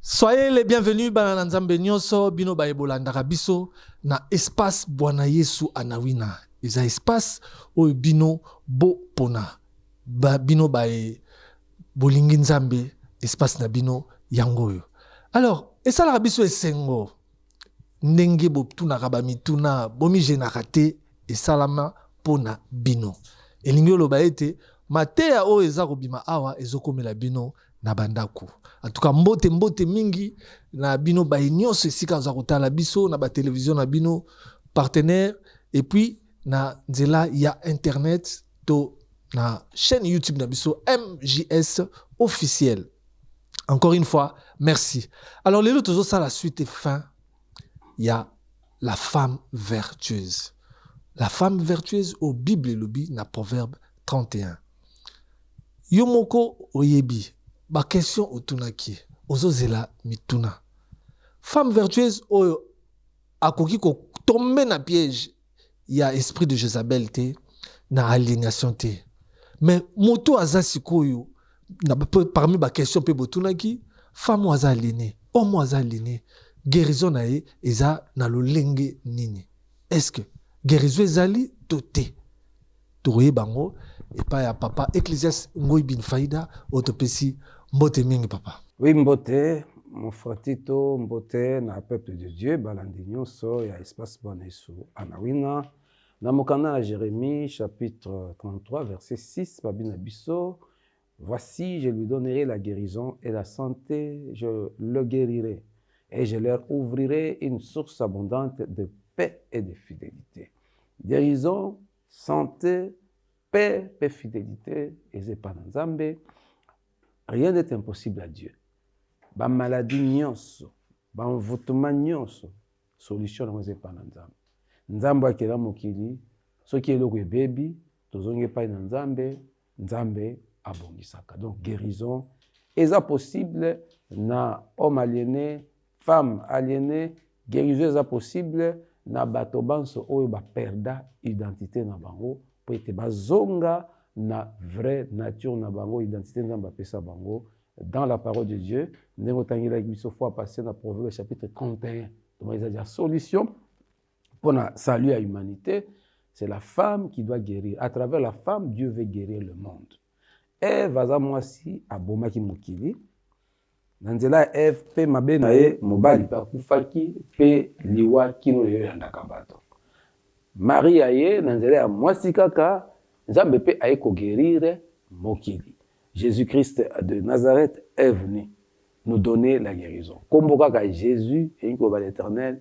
Soyez les bienvenus bana na Nzambe nyoso bino baye bolandaka biso na espace Bwana Yesu Anawina. Eza espace oyo bino bo pona ba, bino baye bolingi Nzambe espace na bino yango oyo. Alors esalaka biso esengo ndenge botunaka bamituna bomijenaka te esalama mpo na bino elingi oloba ete mateya oyo eza kobima awa ezokomela bino na bandako atuka mbote mbote mingi na bino baye nyonso esika aza kotala biso na batelevizio na bino partenaire epuis na nzela ya internet to na chaîne youtube na biso mjs officiel encore une fois merci alors lelo tozosala suite et fin ya la femme vertueuse la femme vertueuse au bible elobi na proverbe 31 yo moko oyebi baquestion otunaki ozozela mituna femme vertueuse oyo akoki kotombe na piège ya esprit de jezabel te na aliénation te mais moto aza sikoyo na, parmi baquestion mpe botunaki femme oyo aza aliene homme oyo aza aliene guérison na ye eza na lolenge nini est ce que guérison ezali to te tokoyeba yango epai ya papa ecclesias ngoi bin faida oyo topesi mbote mingi papa wi mbote mofratito mbote na peuple de dieu balandi nyonso ya espace bonesu anawina na mokanda na jérémie chapitre 33 verset 6 babi na biso Voici, je lui donnerai la guerison et la sante, je le guerirai et je leur ouvrirai une source abondante de paix et de fidelite. Guerison, sante, paix mpe fidelite eza epai na Nzambe. Rien n'est impossible à Dieu. Bamaladi nyonso, banvutuma nyonso, solution yango eza epai na Nzambe. Nzambe akela mokili, soki eloko ebebi, tozongi epai na Nzambe, Nzambe abongisaka. Donc guérison eza possible na homme aliéné, femme aliéné, guérison eza possible na bato banso oyo ba perda identité na bango mpo ete bazonga na vraie nature na bango identité nzambe apesa bango dans la parole de dieu ndenge otangelaki biso fois passé na proverbe chapitre 31 tomaki eza ja solution Pour la salut à l'humanité, c'est la femme qui doit guérir. À travers la femme, Dieu veut guérir le monde. Ève aza mwasi abomaki mokili na nzela ya Ève mpe mabe na ye mobali mpe akufaki mpe liwa kino lelo eyandaka bato. Maria ye na nzela ya mwasi kaka Nzambe mpe aye kogerire mokili. Jesus Christ de Nazareth est venu nous donner la guerison kombo kaka Jesus elingi koloba l'eternel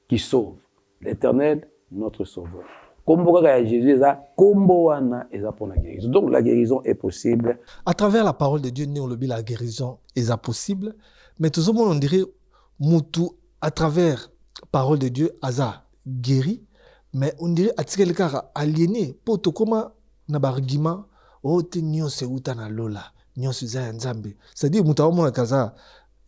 qui sauve l'eternel notre sauveur kombo kaka ya Jesus eza kombo wana eza pona guerison donc la guerison est possible. A travers la parole de Dieu ndenge olobi la guerison eza possible mais tozomona on dirait mutu à travers parole de Dieu aza guéri mais on dirait atikali kaka aliéné po tokoma na ba argument oh te nyonso euta na lola nyonso eza ya nzambe c'est-à-dire moto aomonaka aza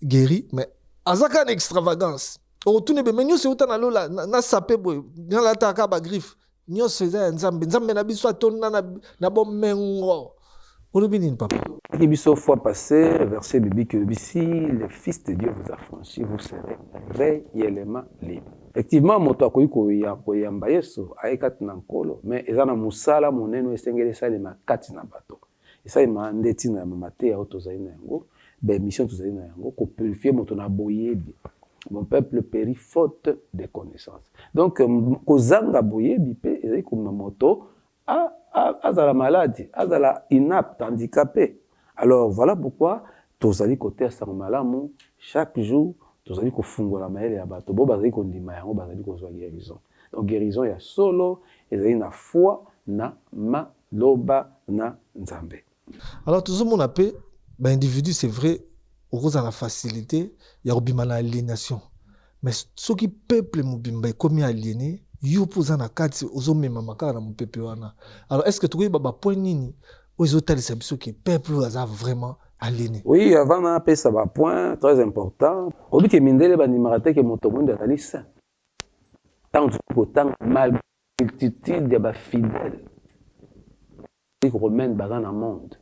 guéri mais aza kaka na extravagance okotuna ebe me nyonso euta na lola nasape boye nalataka ba griffe nyonso eza ya nzambe nzambe na biso atonda na, na bomengo olobi nini papa eki biso fois passé verset biblique elobi si le fils de dieu vous affranchi vous serez réellement libre effectivement moto akoki koya koyamba yesu aye kati na nkolo mais eza na mosala monene esengeli esalema kati na bato Esalema nde ntina ya mateya oyo tozali na yango, ba emissions tozali na yango, ko purifier moto na boyebi. Mon peuple perit faute de connaissance. Donc, kozanga boyebi mpe ezali komema moto azala malade, azala inapte, handicape. Alors, voilà pourquoi tozali koteya sango malamu chaque jour, tozali kofungola mayele ya bato, bo bazali kondima yango, bazali kozwa guerison. Donc, guerison ya solo ezali na foi na Loba na nzambe. Alors tozo mona pe ba individus c'est vrai okozala na facilite ya kobima na alienation mais soki peuple mobimba ekomi aliene yo mpe oza na kati ozomemama kaka na mopepe wana alors est ce que tokoyeba bapoint nini oyo ezotalisa biso ke peuple oyo aza vraiment aliene oui avant na apesa bapoint très important oyebi ke mindele bandimaka te ke moto moindo azali saint ntango tozali kotanga malgre Multitude ya ba fidèles catholiques romaines baza na monde,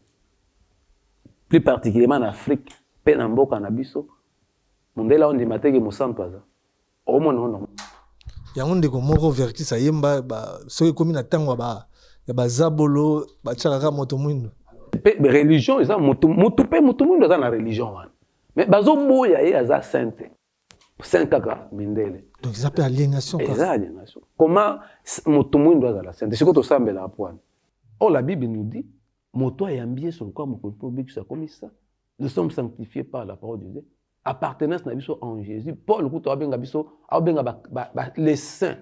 plus particulièrement na Afrique mpe na mboka na biso. Mundele aondima te que mosantu aza, omona yango normal? Yango ndeko moko Verckys ayemba ba soki ekomi na tango ya ba ya ba zabolo batiaka kaka moto mwindo. Mpe religion eza moto, moto mpe moto mwindo aza na religion wana mais bazoboya ye aza saint te. Saint kaka mindele. Donc eza pe alienation kaka. Eza alienation. Comment moto muindu azala saint? Siko tosambelaka po wana. Or la bible nous dit moto ayambi Yesu lokola mokonzi po obikisa akomi saint. Nous sommes sanctifies par la parole de Dieu. Appartenance na biso en Jésus. Paul kutu abenga biso, abenga ba, ba, ba les saints.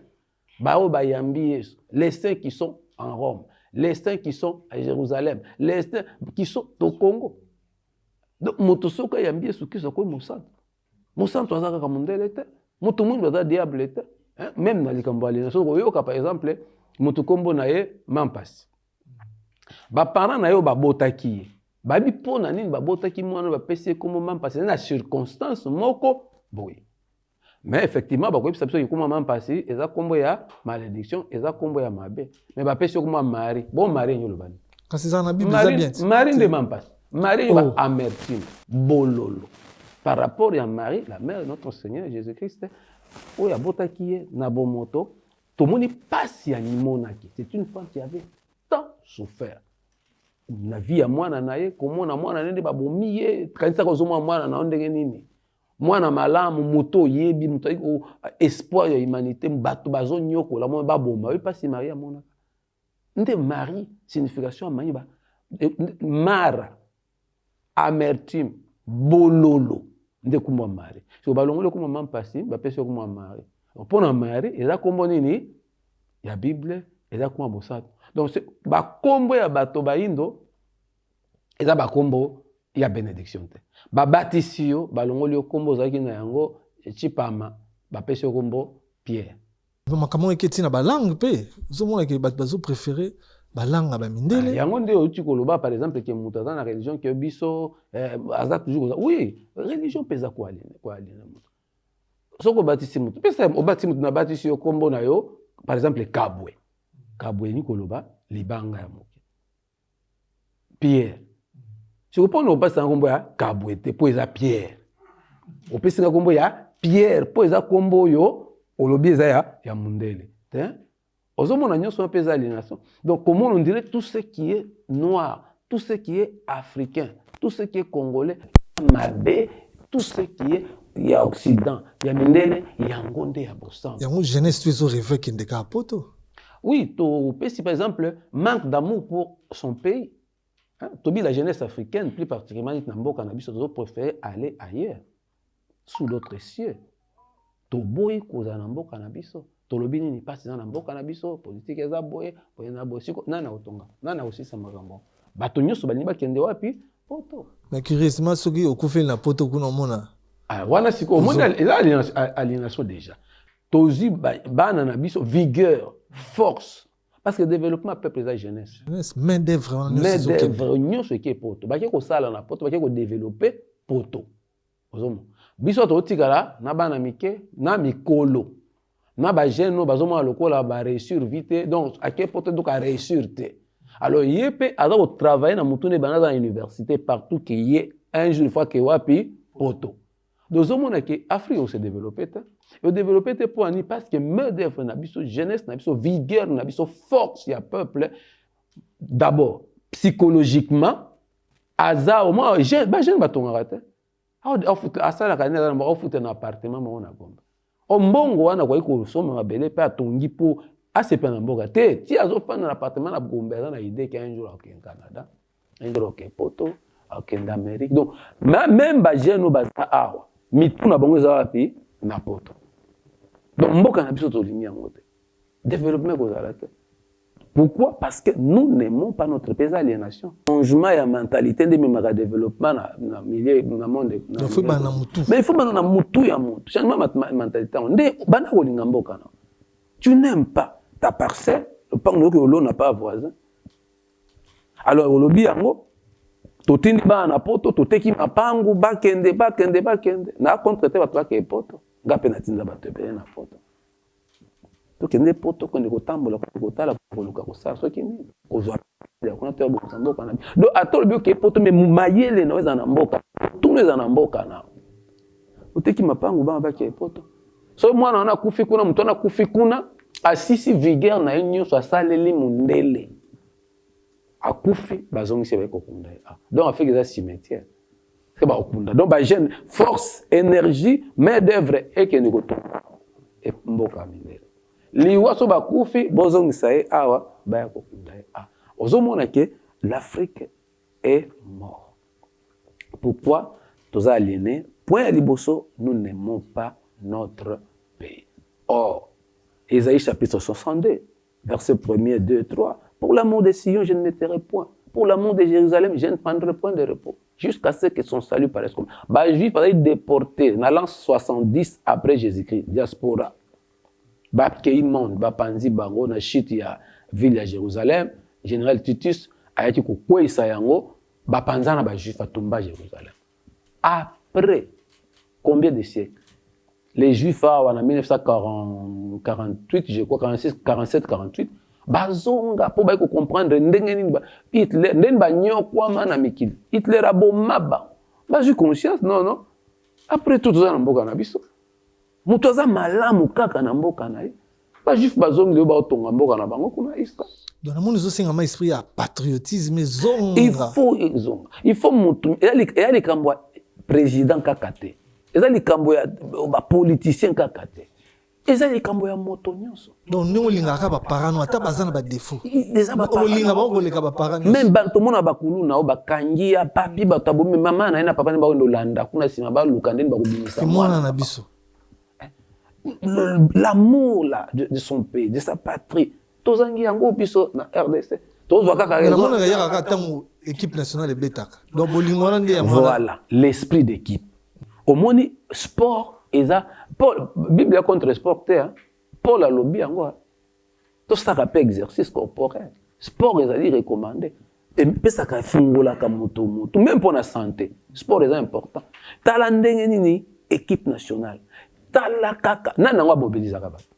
baoyo bayambi yesu les saints qui sont en rome les saints qui sont à jérusalem les saints qui sont to congo donc moto soki ayambi yesu kristo akomi mosantu mosantu aza kaka mondele te moto mwindu aza diable te hein? meme na likambo ya lina soki oyoka par exemple moto nkombo na ye mampasi baparent na ye oyo babotaki ye bayebi mpo na nini babotaki mwana bapesi ye nkombo mampasi na circonstance moko boye mais effectivement bakoyebisa biso kikuma ma mpasi eza nkombo ya malediction eza nkombo ya mabe mais bapesi yo kuma mari bo mari enye olobani kasi ezala na bible eza bien mari nde ma mpasi mari yo oh. baamertime bololo par rapport ya marie la mère de notre seigneur jésus christ oyo abotaki ye na bomoto tomoni mpasi amimonaki c'est une femme qui avait tant souffert na vie ya mwana na ye komona mwana na ye nde babomi ye kanisaka ozomona mwana na yo ndenge nini mwana malamu moto oyebi moto ayaki oh, espoir ya humanité bato bazonyokola mwana baboma oyo mpasi marie amonaka nde marie signification ya marie mara amertume bololo nde kumwa marie so balongoli kumwa ma mpasi bapesi yo kumwa marie mpo na marie eza nkombo nini ya bible eza kumwa bosato donc bakombo ya bato baindo eza bakombo ya benediction te babatisi yo balongoli yo kombo ozalaki na yango chipama bapesi yo kombo pierre makambo oyo eketi na balangue mpe ozomona ke bato bazo préféré balanga ba mindele ah, yango nde outi koloba par exemple ke moto aza na religion ke biso eh, aza toujours koza oui religion mpe eza koalina moto soki obatisi moto pesa obatisi moto nabatisi yo nkombo na yo par exemple kabwe kabwe elingi koloba libanga ya moto Pierre. Siko mpo na opesa na nkombo ya Kabwe te mpo eza Pierre. Opesi na nkombo ya Pierre mpo eza nkombo oyo olobi eza ya, ya mundele te. Ozomona nyonso wana mpe eza alienation. Donc comment on dirait tout ce qui est noir, tout ce qui est africain, tout ce qui est congolais, mabe, tout ce qui est ya occident ya mindele yango nde ya bosango yango jeunesse to ezo reve kende kaka poto Oui, topesi par exemple manque d'amour pour son pays. Hein? Tobi la jeunesse africaine, plus particulièrement neti na mboka na biso, tozo préférer aller ailleurs, sous d'autres cieux. Toboyi kozala na mboka na biso. Tolobi nini pasi eza na mboka na biso, politique eza boye, boye na boye. Siko nani akotonga? Nani akosisa makambo? Bato nyonso balingi bakende wapi? Poto. Mais curieusement soki okufeli na poto kuna omona. Ah, wana siko omoni eza aliénation déjà. tozwi bana na biso vigueur force parce que développement peuple eza jeunesse main d'œuvre nyonso eke poto bake kosala na poto bake kodeveloppe poto ozomona biso totikala na bana mike na mikolo na bajeune oyo bazomona lokola bareusssir vi te donc ake poto donc areusssir te alors ye mpe aza kotravaille na motu nde banda aza na université partout ke ye un jour fois ke wapi poto Donc ozomona ke Afrique ose develope te odevelope te mpo ani parce que main d'œuvre na biso jeunesse na biso vigueur na biso force ya peuple d'abord psychologiquement aza omwa bajeune batongaka te asalaka nini aza na moko afuta na appartement moko na gomba o mbongo wana akoki kosomba mabele mpe atongi mpo asepela na mboka te ti azofanda na appartement na gombe aza na idee ke un jour akokende canada un jour akokende poto akokende amérique donc meme bajeune oyo baza awa mitu na bango eza wapi na poto donc mboka na biso tolingi yango te development ekozala te Pourquoi parce que nous n'aimons pas notre pays eza alienation changement ya mentalite nde ememaka développement na, na milieu na monde na faut bana mutu mais il faut bana na mutu ya mutu changement ma mentalite yango nde bana kolinga mboka na tu n'aimes pas ta parcelle lopango nayoki olona pa voisin alors olobi yango totindi bana na poto toteki mapangu bakende bakende bakende na contre te bato bakee poto nga mpe natinda bato ebele na poto Tokende mpo tokende kotambola kokende kotala koluka kosala soki nini kozwa ya kuna to ya bokisa mboka na biso donc ata olobi okei poto me mayele na eza na mboka tuna eza na mboka na oteki mapangu bana bakei poto soki mwana wana akufi kuna moto wana akufi kuna asisi vigere na ye nyonso asaleli mondele Akufi bazongisi ye baye kokunda ye awa donc Afrique eza cimetière ke bakokunda donc ba jeune force energie main d'oeuvre ekende kotonga e mboka mindele liwa so bakufi bozongisa ye awa baya kokunda ye awa ozomona ke l'Afrique est mort Pourquoi toza aliéné Point ya liboso, nous n'aimons pas notre pays. Or, Esaïe chapitre 62, Verset premier, deux, trois, Pour la mont de Sion, je ne me tairai point. Pour la mont de Jerusalem, je ne prendrai point de repos. Jusqu'à ce que son salut paraisse comme. Ba juifs bazali déportés na l'an 70 après Jésus-Christ, diaspora. Bakei monde, bapanzi bango na chute ya ville ya Jérusalem, général Titus ayaki kokweisa yango, bapanzana ba juifs, atumba Jérusalem. Après combien de siècles les juifs awa na 1948 je crois 46 47 48 bazonga mpo baye kocomprendre ndenge nini hitler ndenge banyokwama na mikili hitler aboma bango bazwi conscience non non après tout toza na mboka na biso Moto aza malamu kaka na mboka na ye. Ba juif bazongi lelo baotonga mboka na bango kuna Israël. Donc namoni ezosenga ma esprit ya patriotisme ezonga. Il faut ezonga. Il faut moto eya likambo ya président kaka te. Eza likambo ya ba politiciens kaka te. Eza likambo ya moto nyonso. Donc ndenge olingaka ba parents no ata baza na ba defaut. Olinga bango koleka ba parents no. Même bantu mona ba kuluna o bakangi ya papi bato abomi mama na ye na papa ne bakende olanda kuna sima ba luka ndenge bakobimisa mwana na biso. L'amour là de, de son pays, de sa patrie. Tozangi yango biso na RDC. Tozwa kaka raison. Namona yaka kaka tango équipe nationale ebetaka. Donc bolingo wana nde ya mwana. Voilà, l'esprit d'équipe. Omoni sport eza Paul Biblia contre sport te hein. Paul alobi yango hein. Tosaka pe exercice corporel. Sport ezali recommande. Epesaka efungolaka moto moto meme mpo na sante. Sport eza important. Tala ndenge nini equipe nationale. Tala kaka nani yango amobilizaka bato.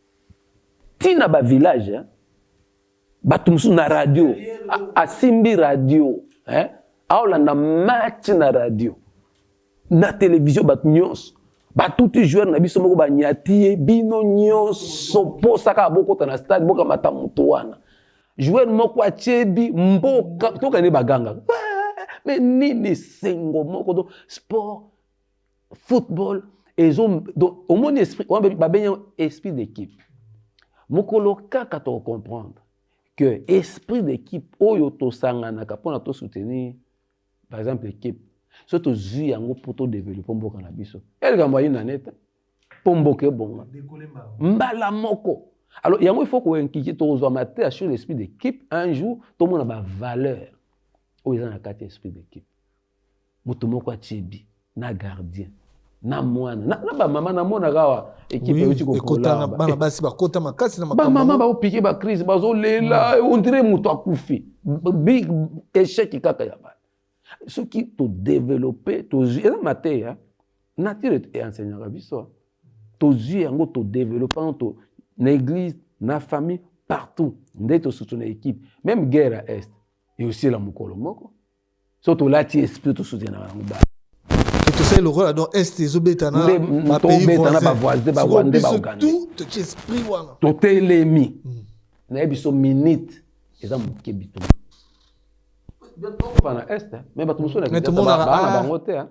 Ti na ba village hein. Bato mosusu na radio asimbi radio hein. Aolanda match na radio. na televizio bato nyonso batuti joueur na biso moko banyati ye bino nyonso mposa kaka bokota na stade bokamata moto wana joueur moko atyebi mboka toka nde baganga me nini sengo moko do sport football ezo omoni esprit wana babengi esprit d'équipe mokolo kaka tokocomprendre que esprit d'équipe oyo tosanganaka mpona tosoutenir par exemple ekipe so tozwi yango mpo todevelope mboka na biso ya likambo ayina nete mpo mboka ebonga mbala moko alors yango ifo koinkite tokozwa mateya sur l'esprit d'équipe un jour tomona bavaleur oyo eza na kati ya esprit d'équipe moto moko atyebi na gardien na mwana na, na bamama namonaka awa ekipe euti kokotana bana basi bakota makasi na bamama baopike bacrise bazolela hmm. ondire moto akufi big échec kaka ya bana soki todeveloppe tozwi eza mateya nature eenseignaka biso tozwi yango todeveloppe yango to na église na famille partout nde tosusu na équipe même guerre ya est eosila mokolo moko so tolati esprit tosoutenaka yango ba tosali lokola don est ezobeta na esprit wana totelemi hmm. naye biso minute eza moke bitoma na est me bato mosusu na bango te ah.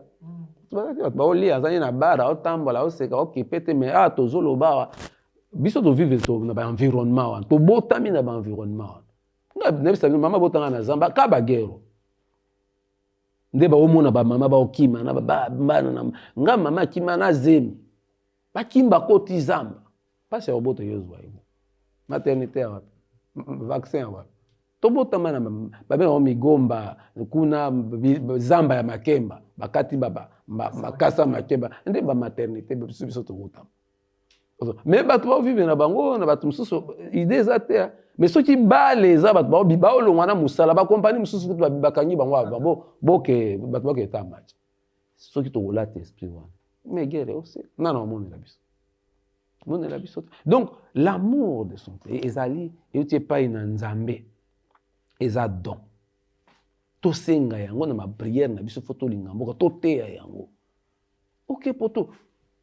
bato baolia azali na bar aotambola aoseka okipe te me a ah, tozoloba awa biso tovive na baenvironnement wana tobotami na baenvironnement wana nayebisa bino mama botanga na zamba ka bagero nde baomona bamama baokima na babana na nga mama akima na zemi bakimba koti zamba mpasi ya kobota yo ozwa yango maternité ya wapi vaccin ya wapi tobotama na babe yango migomba kuna zamba ya makemba bakati makasa makemba nde bamaternité biso biso tobotama mais bato baovivre na bango na bato mosusu idée eza te hein. mais soki bale eza bato baolongwa na mosala bakompani mosusu kutu bakangi bango ava boke bato bakende ta match soki tokolata esprit wana megere ose nana omonela biso monela biso te donc l'amour de son pays ezali euti epai na nzambe eza don tosenga yango na bapriere na biso fo tolinga mboka toteya yango oke okay, poto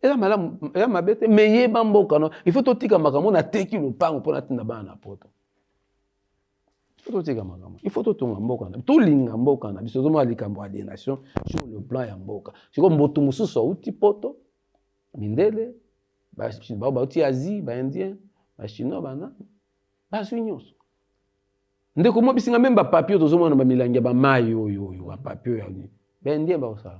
eza malamu eza mabe te me yeba mboka no il faut totika makambo nateki lopango mpo natinda bana na poto totika makambo il faut totonga mboka na tolinga mboka na biso ozomona likambo ya denation sur le plan ya mboka sikoyo mbotu mosusu auti poto mindele bao bauti asie baindien bachinois bana bazwi nyonso ndeko mwa bisinga meme bapapier tozomona na bamilangi ya bamai oyo oyo bapapier ya nini baindien bakosala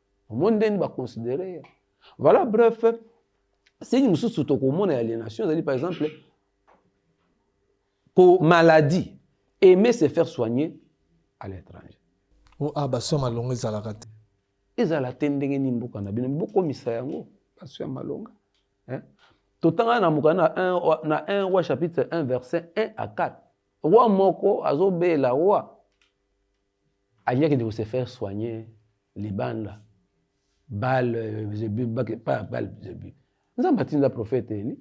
omoni ndeni ba considérer ye voilà bref signe mosusu tokomona ya aliénation ezali par exemple ko maladie aimer se faire soigner à l'étranger o oh, a ah, baso ya malonga ezalaka te ezala te ndenge nini mboka na bino bokomisa yango baso ya malonga totanga na moka na 1 na 1 roi chapitre 1 verset 1 à 4 roi moko azobela roi Alingi akende ko se faire soigner libanda bale zebi pa bale zebi nzambe atinda profete eli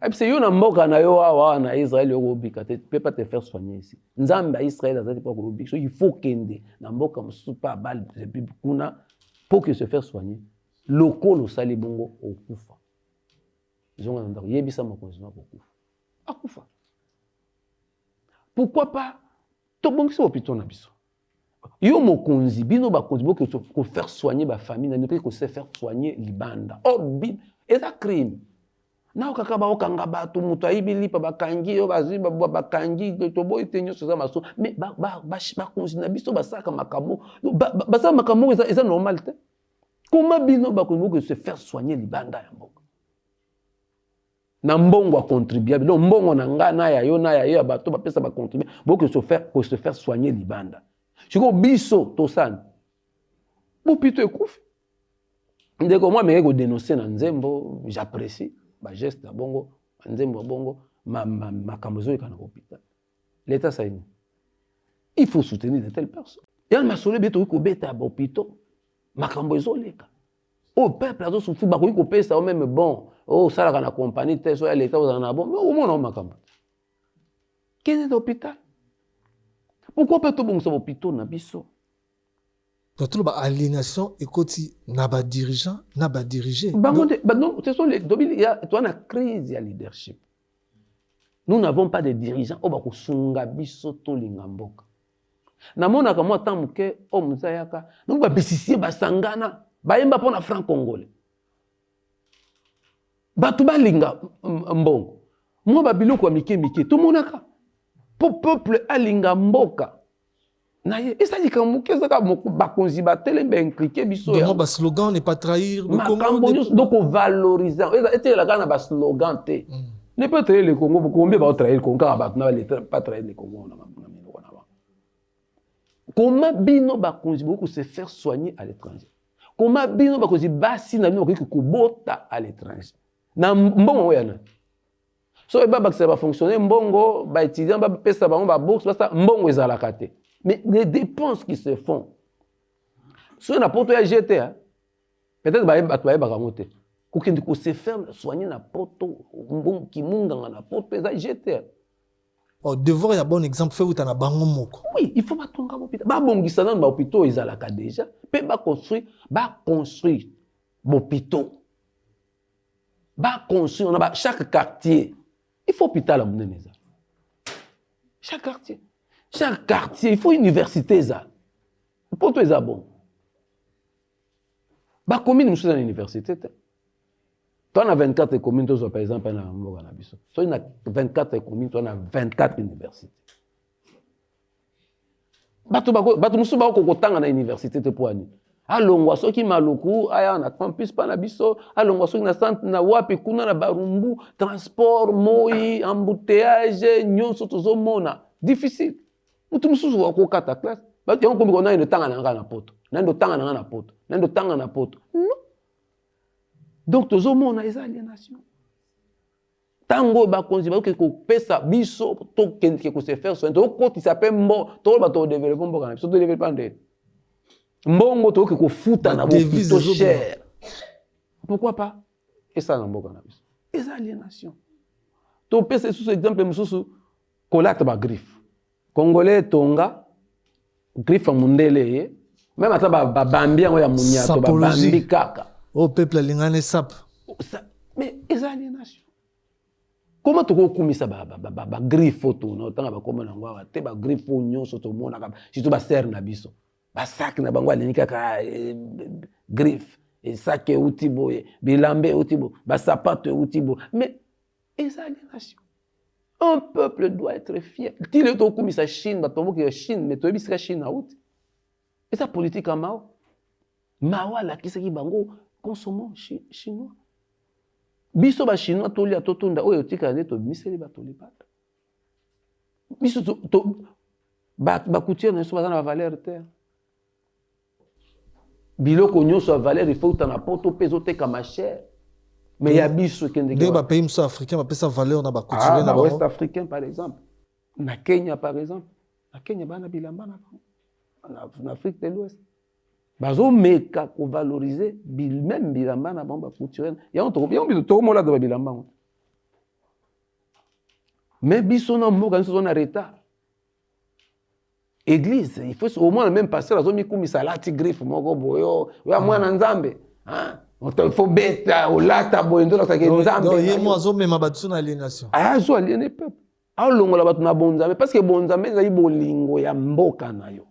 ayebisa yo na mboka na yo awa na israele yo kobika te pe pa te faire soigner ici nzambe ya israele azali mpo akobika so il faut kende na mboka mosusu pa bale zebi kuna mpo ke se faire soigner lokola osali bongo okufa zonga na ndako yebisa mokonzi na kokufa akufa pourquoi pas tobongisa hopitau na biso yo mokonzi bino bakonzi boke kofaire soigner bafamille na bino mpe kose faire soigner libanda or eza crime nao kaka baokanga bato moto ayibi lipa bakangi yo bazwi bakangi toboyi te nyonso eza maso me bakonzi na biso basalaka makambo basala makambo oyo eza normal te koma bino bakonzi boke se faire soigner libanda ya mboka na mbongo ya contribuable donc mbongo na ngai na ya yo na ya yo ya bato bapesa bacontribuable bokoki se faire, se faire soigner libanda sikoyo biso tosani bopito ekufi ndeko mwa meke kodenonse na nzembo j'apprécie bageste ya bongo banzembo ya bongo makambo ezoyekana kopital leta saini il faut soutenir de telle personne yana masolo ebe tokoki kobeta ya bopito makambo ezoleka oyo oh, peuple azo souffrir bakoki kopesa yo meme bon oh, osalaka na compagnie te so ya leta ozala na bon okomona o makambo kende na hôpital pourkoi mpe tobongisa bopito na biso totolo ba aliénation ekoti na badirigant na badirige bango nde toa na crise ya leadership nous n'avons pas de dirigeant oyo bakosunga biso tolinga mboka namonaka mwa temps moke oyo oh, moto ayaka donc babisisie basangana bayemba mpo na franc congolais bato balinga mbongo mwa babiloko ya mike mike tomonaka mpo peuple alinga mboka na ye eza likambo moke ezaka bakonzi batele baimplike biso ya baslogan ne pas trahir makambo nyonso donc ovalorisant etelela kaka na baslogan te mm. ne pas trahir le congo combien baotrahir congo kaka bato na baleta pas trahir le congo na na minoko na bango koma bino bakonzi bokoki kose faire soigner à l'étranger koma bino bakonzi basi na bino bakoki kobota à l'étranger na mbongo yango ya nani soki babakisa bafonctionnaire mbongo baétudiant bapesa bango babourse basa mbongo ezalaka te mais les dépenses qui se font soki na poto ya jete hein, peut-être bato bayebaka yango te kokende kose faire soigner na poto kimunganga na poto eza jete hein. Oh, devoir ya bon exemple fe uta na bango moko oui il faut batonga hôpital babongisa nanu bahôpitaux ezalaka déjà mpe baconstruire baconstruire bahôpitaux baconstruire na ba chaque quartier il faut hôpital ya monene eza chaque quartier chaque quartier il faut université eza poto eza bongo bakomi mosusu eza na université te Toi na 24 communes tozwa par exemple na mboka na biso soki na 24 communes toi na 24 université bato bato mosusu bakoki kotanga na université te mpo ani alongwa soki maluku aya na campus mpa na biso alongwa soki na centre na wapi kuna na barumbu transport moi embouteillage nyonso tozomona difficile motu mosusu wakokata classe yango komikonayo ndotanga na ngai na poto nani ndotanga na ngai na poto nani ndotanga na poto non donc tozomona eza alienation ntango oyo bakonzi bayoki kopesa biso tokendeke kose faire soin tokotisa mpe mbo toloba todevelope mboka na biso todevelope nde mbongo toyoki kofuta na bopito cher pourquoi pas esala na mboka na biso eza alienation topesa lisusu exemple mosusu kolata bagriffe Congolais etonga griffe mundele ye meme ata babambi yango ya munyato babambi kaka oyo oh, peuple alingani esape mais eza alienation koma tokokumisa bagriffe oyo tona otanga bakoma na yango awa te bagriffe oyo nyonso tomonaka surtout basere na biso basaki na bango alingi kaka eh, griffe esaki euti boye bilamba euti boye basapato euti boye mais eza alienation Un peuple doit être fier. Ti leo tokumisa Chine, bato baboki ya Chine, mais toyebi sika Chine auti. Eza politique ya Mao. Mao alakisaki bango consommons chinois. Biso ba chinois tolia totunda oyo otikala nde tobimiseli bato libata. Biso to, to ba, ba couture na biso baza na ba valeur te. biloko nyonso ya valeur ifo euta na poto mpe ezotekama cher me ya biso ekendeke bapays mosusu africain bapesa valeur na bacouturie ah, na west africain par exemple na kenya par exemple na kenya bana bilamba na bango na afrique de l'ouest bazomeka kovalorize meme bilamba na bango bacouturie yango biso tokomola doba bilamba yango me biso na mboka nyonso oza na retard Église, il faut au moins le même pasteur azo mikumisa alati griffe moko boyo, oh, oya ah. mwana Nzambe. Hein? Il faut beta olata boye ndola sake Nzambe. Donc ye mo azo mema bato na aliénation. Ah, azo aliéné peuple. Alongola bato na bonzambe parce que bonzambe ezali bolingo ya mboka na yo.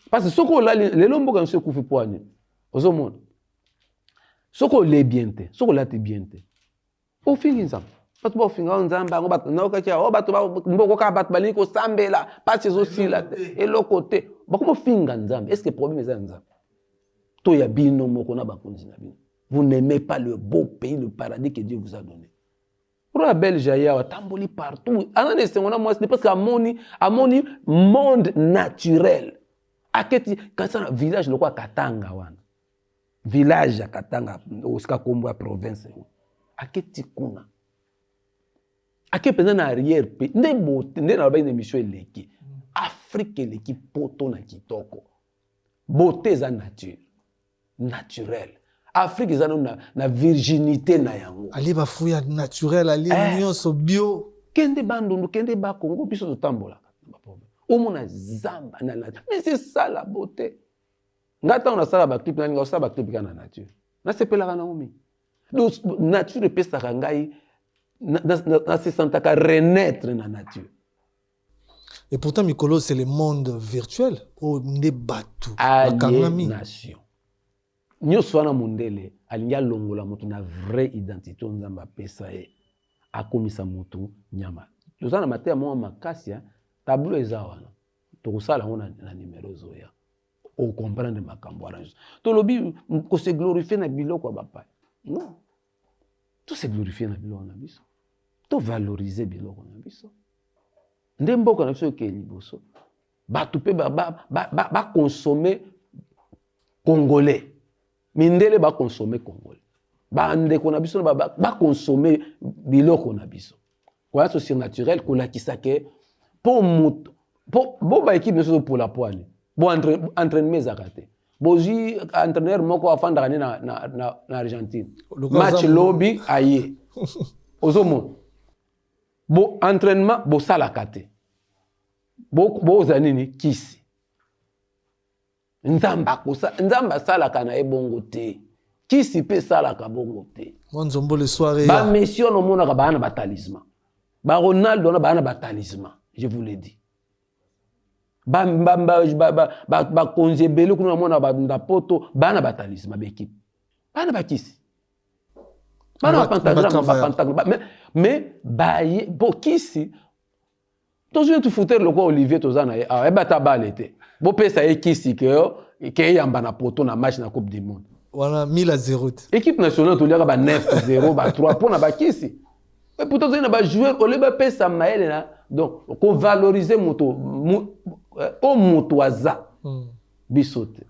Parce que soki olali lelo mboka nso ekufi po ani. Ozomona. Soki olie bien te, soki olati bien te. ofingi nzambe bato baofinga o nzambe yango bato naokaki o oh, bato mboko kaka bato balingi kosambela mpasi ezosila te eloko te bakoma ofinga nzambe estce problème eza ya nzambe to ya bino moko na bakonzi na bino vous n'aimez pas le beau pays le paradis que dieu vous a donné ro ya belge aye awa atamboli partout aza na esengo na mwasi te parce que amoni amoni monde naturel aketi kasi na village lokola katanga wana village ya katanga osika kombo ya province yango aketi kuna ake mpenza na arrière mpe nde bote nde nalobaki na émission eleki afrique eleki poto na kitoko bote eza nature naturel afrique eza nano na, na virginité na yango alie bafui ya naturel alie eh. nyonso bio kende bandundu kende bakongo biso totambolaka omona zamba na nature mais c'est ça la beauté Nga ntango nasala baclip nani nga osala baclip kaka na nature nasepelaka nango mingi donc nature epesaka ngai nasesantaka renaître na nature et pourtant mikolo c'est le monde virtuel oyo nde bato bakangami nation nyonso wana mondele alingi alongola moto na vrai identité oyo nzambe apesa ye akomisa moto nyama toza na mateya moko makasi tableau eza wana tokosala yango na numero ezoya o comprendre makambo wana nyonso tolobi kose glorifie na biloko ya bapaya non tose glorifie na biloko na biso tovalorize biloko na biso nde mboka na biso ekei liboso bato mpe bakonsome ba, ba, ba congolais mindele ba consommer congolais ba ndeko na biso ba, ba, ba consommer biloko na biso koya so surnaturel kolakisa ke po moto po bo ba equipe nyonso pola poani bo entre, entraînement ezaka te bozwi entraîneur moko afandaka nde na, na, na, na argentine match lobi aye ozomona bo entraînement bosalaka te bozala bo nini kisi nzambe akosa nzambe asalaka na ye bongo te kisi mpe esalaka bongo te bamessi wana omonaka baa na batalisma baronaldo wana baa na batalisma je vous le dis bakonzi ebele kuna namona na poto baa na batalisma baekipe baa na bakisi bana bapantagrame mais baye bokisi tozwi netu foutere lokola olivier toza na ye awa yeba ata bale te bopesa ye kisi ke ke eyamba na poto na match na coupe du monde wana 1000 a 0 te équipe nationale toliaka ba 9 0 ba 3 mpo na bakisi e pourtant tozali na bajoueur olie bapesa mayele na donc kovalorize moto o moto aza hmm. biso te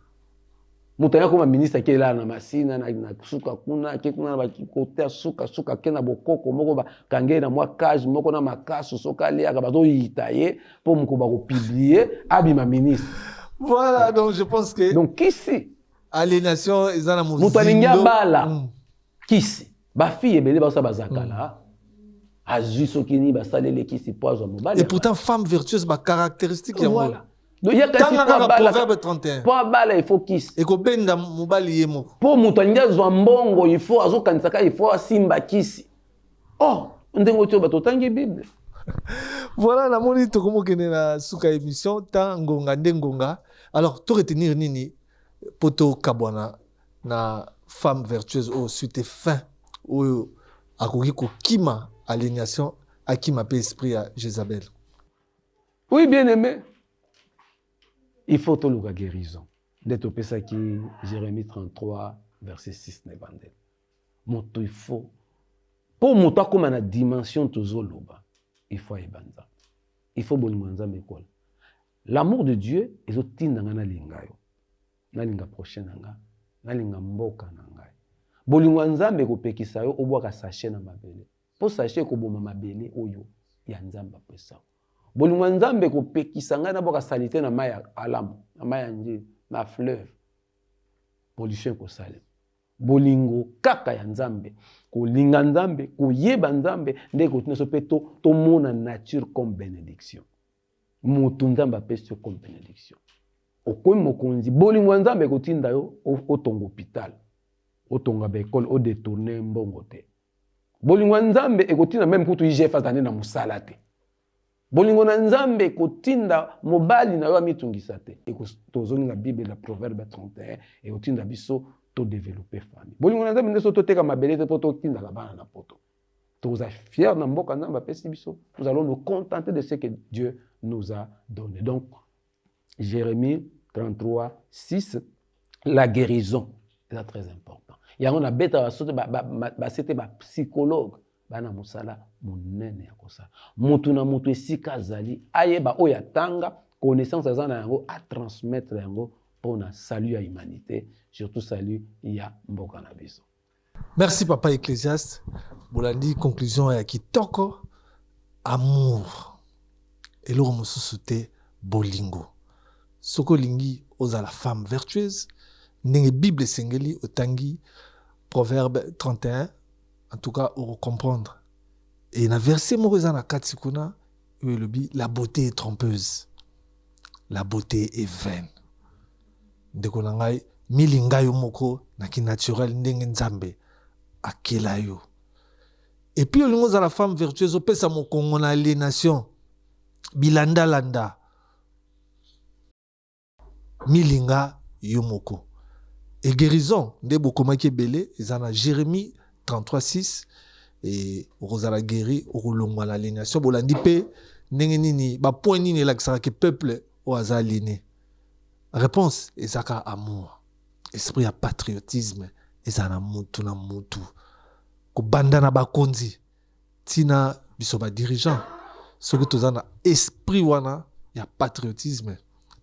moto aya koma ministre ake elala na masina na suka kuna ake kuna na bakikote ya suka suka ake na bokoko moko bakange ye na mwa cage moko na makasu soki aliaka bazoyita ye mpo moko bakopiblie abima ministre voilà donc je pense que donc kisi aliénation eza na moto alingi abala mm. kisi bafille ebele baosa bazakala mm. azwi soki nini basali elekisi mpo azwa mobali et pourtant femme vertueuse bacaractéristique yango voilà. po abala ifo kisi ekobenda mobali ye moko mpo moto alingi azwa mbongo ifo azokanisa kaka ifo asimba kisi o oh, ndenge otiyo bato otangi bible voilà namoni tokomokende na suka émission ta ngonga nde ngonga alors to retenir nini mpo tokabwana na femme vertueuse oyo suite fin oyo akoki kokima alignation akima mpe esprit ya jezabel oui bien aimé il faut toluka guérison nde topesaki jérémie 33 verset 6 na ebandeli moto il faut mpo moto akóma na dimension tozoloba il faut ayeba nzambe il faut bolingo ya nzambe ekola l'amour de dieu ezotinda ngai nalinga yo nalinga prochain na ngai nalinga mboka na ngai bolingo ya nzambe ekopekisa yo obwaka sashe na mabele mpo sashe ekoboma mabele oyo ya nzambe apesa bolingo ya nzambe ekopekisa ngai nabwaka salite na mai ya alamu na mai ya njeli na fleuve pollution ekosalema bolingo kaka ya nzambe kolinga nzambe koyeba nzambe nde ekotina so mpe tomona nature comme benediction moto nzambe apesi yo comme benediction okomi mokonzi bolingo ya nzambe ekotinda yo otonga hopital otonga baekole odetourne mbongo te bolingo ya nzambe ekotinda meme kutu igf azali na mosala te bolingo na nzambe ekotinda mobali na yo amitungisa te tozongi na bible na proverbe 31 ekotinda biso todevelope famille bolingo na nzambe nde so toteka mabele te mpo totindaka bana na poto tokozala fier na mboka nzambe apesi biso nous allons nous contenter de ce que dieu nous a donné donc jérémie 33 6 la guérison eza très important yango nabetaka soki base te bapsychologue baa na mosala monene ya kosala motu na motu esika azali ayeba oyo atanga connaissance aza na yango atransmettre yango mpo na salut ya humanité surtout salut ya mboka na biso Merci papa Ecclesiaste, bolandi conclusion ya kitoko, amour eloko mosusu te bolingo. Soki olingi ozala femme vertueuse, ndenge Bible esengeli otangi Proverbe 31, en tout cas comprendre. Et na verset moko eza na kati kuna oyo elobi la beauté est trompeuse, la beauté est vaine. ndeko na ngai milinga yo moko na kinaturel ndenge nzambe akela yo epuis olingi ozala femme vertueuse opesa mokongo na alienation bilandalanda milinga yo moko e guérison nde bokomaki ebele eza na jérémie 336 e okozala guéri okolongwa na alienation bolandi mpe ndenge nini bapoint nini elakisaka ke peuple oyo aza aliene Réponse eza ka amour. Esprit ya patriotisme eza na mutu na mutu. Kobanda na bakonzi tina biso ba dirigeants soki toza na esprit wana ya patriotisme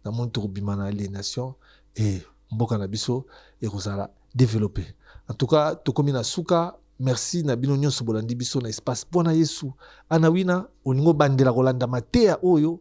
na moni tokobima na aliénation et mboka na biso ekozala développe. En tout cas tokomi na suka merci na bino nyonso bolandi biso na espace mpo na yesu anawina olingi obandela kolanda mateya oyo